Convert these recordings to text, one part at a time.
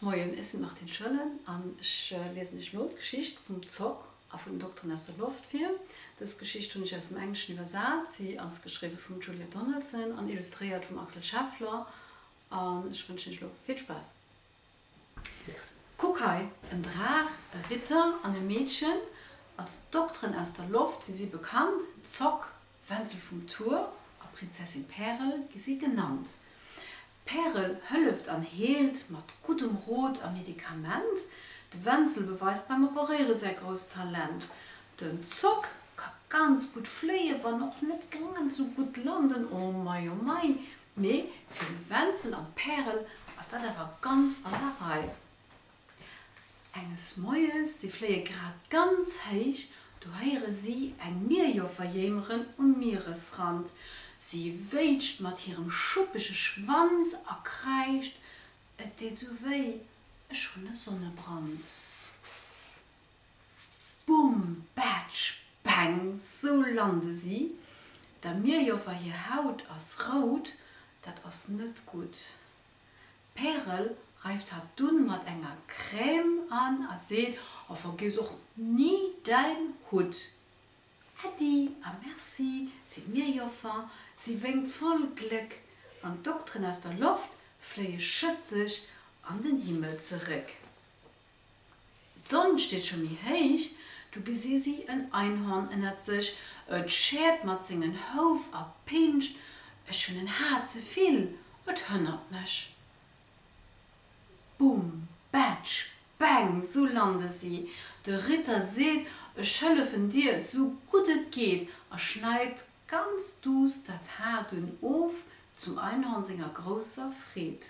Moien, ech sinn d'Martine Schoellen an ech liesen iech elo d'Geschicht vum Zock a vun den Dokteren aus der Loft vir. Dës Geschicht hunn ech aus dem Engleschen iwwersat. Si ass geschriwwe vum Julia Donaldson an illustréiert vum Axel Scheffler an ech wënschen iech elo vill Spaass. Kuck hei, en Draach, e Ritter an e Meedchen, als Dokteren aus der Loft si si bekannt. Zock, Wenzel vum Tour a Prinzessin Pärel gi si genannt. D'Pärel hëlleft an heelt mat guddem Rot a Medikament, de Wenzel beweist beim Operéiere säi grousst Talent, den Zopp ka ganz gutt fléien, wann och net grad esou gutt landen, oh mei, oh mei, mee fir de Wenzel an d'Pärel ass dat awer ganz an der Rei. Enges Moies, si fléie grad ganz héich, du héiere si eng Mierjoffer jéimeren um Mieresrand. Si wéitscht mat hirem schuppege Schwanz a kräischt, Et deet esou wéi, ech hunn e Sonnebrand. Bumm, Batsch, Peng, sou lande si. Der Mierjoffer hir Haut ass rout, dat ass net gutt. D'Pärel reift hat dunn mat enger Crème an a seet, A vergiess och ni däin Hutt! Äddi a Merci, seet d'Mierjoffer. Si wénkt voll Gléck an d'Dokteren aus der Loft fléie schëtzeg an den Himmel zeréck. D'Sonn steet scho méi héich, du gesi si en Einhorn ënnert sech, et schäert mat sengen Houf a pinscht, ech hunn en Har ze vill, et hënnert mech. Bum! Batsch! Bäng! Sou lande si. De Ritter seet, ech hëllefen dir sou gutt et geet a schneit ganz duuss dat Har dunn of, zum Einhorn senger grousser Freed.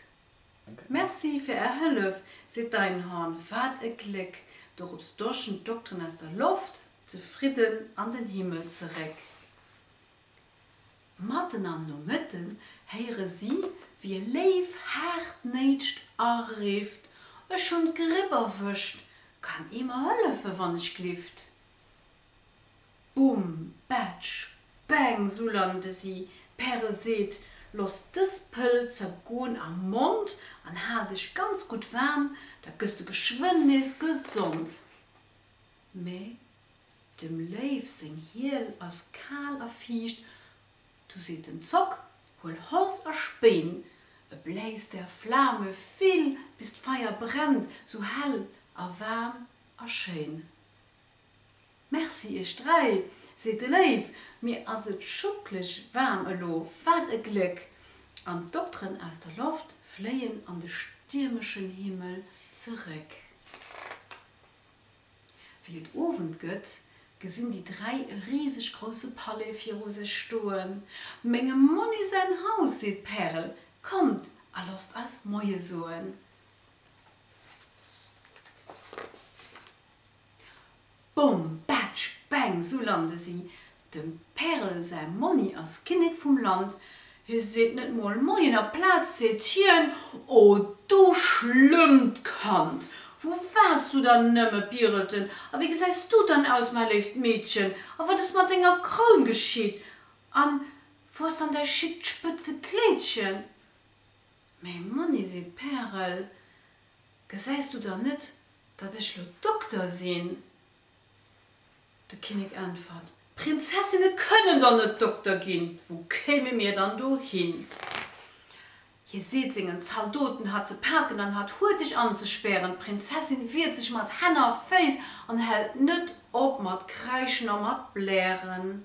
Merci fir är Hëllef, seet d'Einhorn, wat e Gléck! Dorops doschen d'Dokteren aus der Loft zefridden an den Himmel zeréck. Matten am Nomëtten héiere si, wéi e Léif haartnäitscht a rifft, Ech hunn d'Gripp erwëscht, kann ee mer hëllefen, wann ech glift? Bumm, Batsch, Bang, sou lande si. Pärel seet, Loss dës Pëll zergoen am Mond an hal dech ganz gutt waarm, da gëss du geschwënn nees gesond. Mä dem Léiw seng Hiel ass kal a fiicht. Du seet den Zock, Huel Holz a Spéin, e bläis der Flame vill, bis d'Feier brennt, sou hell a waarm a schéin. Merci iech dräi, seet de Léiw, mir ass et schuckleg waarm elo, wat e Gléck! An d'Dokteren aus der Loft fléien an de stiermeschen Himmel zeréck. Wéi et Owend gëtt, gesinn déi dräi e riseg grousse Palais viru sech stoen. Mengem Monni säin Haus, seet d'Pärel, kommt a losst eis Moie soen. Bom, Batsch, Bang, sou lande si. Dem Pärel säi Monni ass Kinnek vum Land. Hie seet net mol Moien, aplaz seet hien, O du schlëmmt Kand, wou waars du dann nëmme, Pirelchen, a wéi gesäis du dann aus, mäi léift Meedchen, a wat ass mat denger Kroun geschitt, a wou ass dann däi schickt spëtze Kléidchen? Mä Monni, seet d'Pärel, gesäis du dann net, datt ech lo Dokter sinn? De Kinnek äntwert, Prinzessinne kënnen der net Dokter ginn, wou kéime mir dann do hin? Hie seet sengen Zaldoten, hat ze paken an hat hurteg anzespären. D'Prinzessin wiert sech mat Hänn a Féiss an hält net op mat kräischen a mat blären.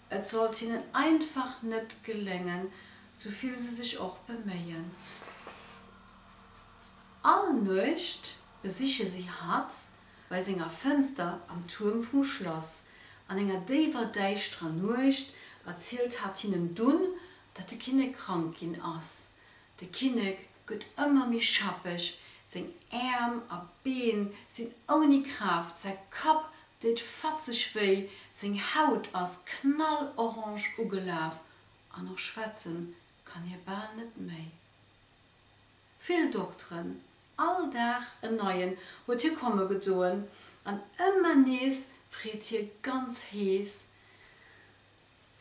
Et sollt hinnen einfach net geléngen, sou vill se sech och beméien. All Nuecht besiche si hatt bei senger Fënster am Tuerm vum Schlass. An enger déiwer, däischterer Nuecht erzielt hatt hinnen dunn, datt de Kinnek krank ginn ass. De Kinnek gëtt ëmmer méi schappeg, seng Äerm a Been sinn ouni Kraaft, säi Kapp deet fatzeg wéi, seng Haut ass knallorange ugelaf an och schwätzen kann hie bal net méi. Vill Dokteren, all Dag en neien, huet hie komme gedoen an ëmmer nees freet hie ganz hees,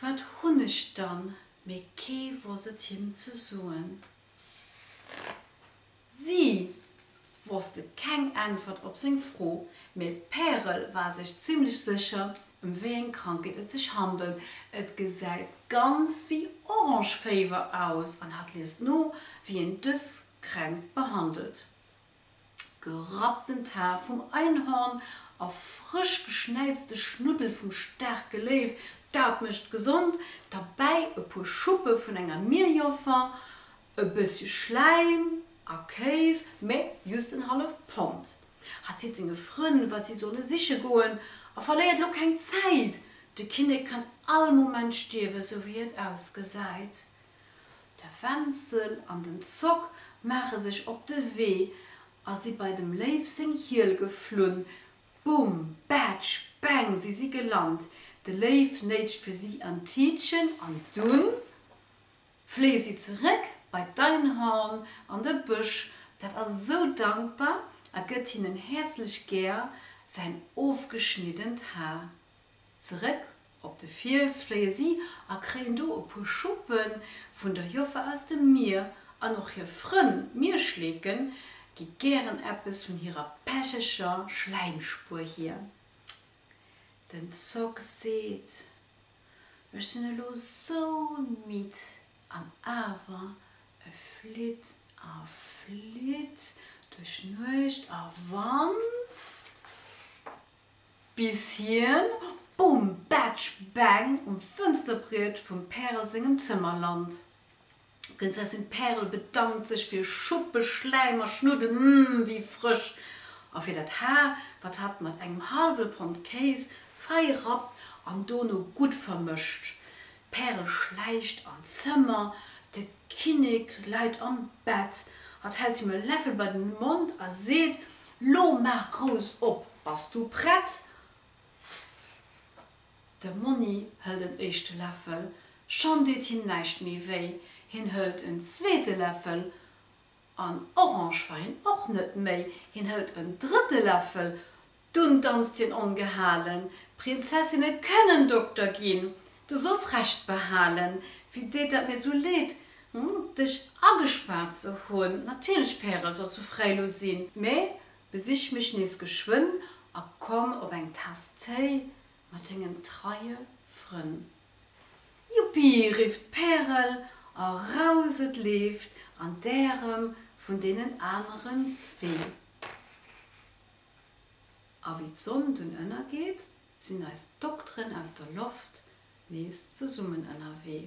Wat hunn ech dann? Mee kee wosst et him ze soen. Si wosste keng Äntwert op seng Fro, mee d'Pärel war sech zimmlech sécher, ëm wéi eng Krankheet et sech handelt, Et gesäit ganz wéi Orangeféiwer aus an hat liest no, wéi een dës Kränkt behandelt. gerappten Taf vum Einhorn a frësch geschnäizte Schnuddel vum staarke Léiw, dat mécht gesond, derbäi e puer Schuppe vun enger Mierjoffer, e bëssche Schläim a Kéis, mä jhust en halleft Pond. Hatt seet senge Frënn, wat si solle siche goen, a verléiert lo keng Zäit, de Kinnek kann all Moment stierwen, sou wéi et ausgesäit. De Wenzel an den Zock maache sech op de Wee a si bei dem Léiw seng Hiel geflunn. Bum! Batsch! Bäng! Si si gelant. De Léiw néitscht fir si an d'Tiitchen an dunn fléie si zeréck bei d'Einhorn an de Bësch. Dat ass esou dankbar a gëtt hinnen häerzlech gär säin ofgeschniddent Har. Zeréck op de Fiels fléie si a kréien do e puer Schuppe vun der Joffer aus dem Mier an och hir Frënn, d'Mierschleeken, gi gären eppes vun hirer pecheger Schläimspuer hier. Den Zock seet, Ech sinn elo sou midd, an awer, e flitt a flitt duerch Nuecht a Wand. Bis hien bum batsch bang um Fënsterbriet vum Pärel sengem Zëmmer lant. D'Prinzessin Pärel bedankt sech fir Schuppe, Schläim a Schnuddel, mm, wéi frësch! a fir dat Haar, wat hat mat engem hallwe Pond Kéis fei rappt an dono gutt vermëscht. D'Pärel schläicht an d'Zëmmer, de Kinnek läit am Bett. Hatt hält him e Läffel bei den Mond a seet, Lo maach grouss op, bass du prett? De Monni hëlt en éischte Läffel, schonn deet him näischt méi wéi. Hien hëlt en zweete Läffel, an orange war hien och net méi. Hien hëlt en drëtte Läffel, Dunn danzt hien ongehalen. Prinzessinne kënnen Dokter ginn. Du solls Recht behalen. Wéi deet dat mir sou leed, hm, dech agespaart ze hunn. Natierlech, Pärel, solls du fräi lo sinn. Mä besich mech nees geschwënn a komm op eng Taass Téi mat dengen treie Frënn. Juppi! rifft d'Pärel a rauset, leeft an d'Ärem vun deenen aneren zwee. A wéi d'Sonn dunn ënnergeet, sinn eis Dokteren aus der Loft nees zesummen ënnerwee.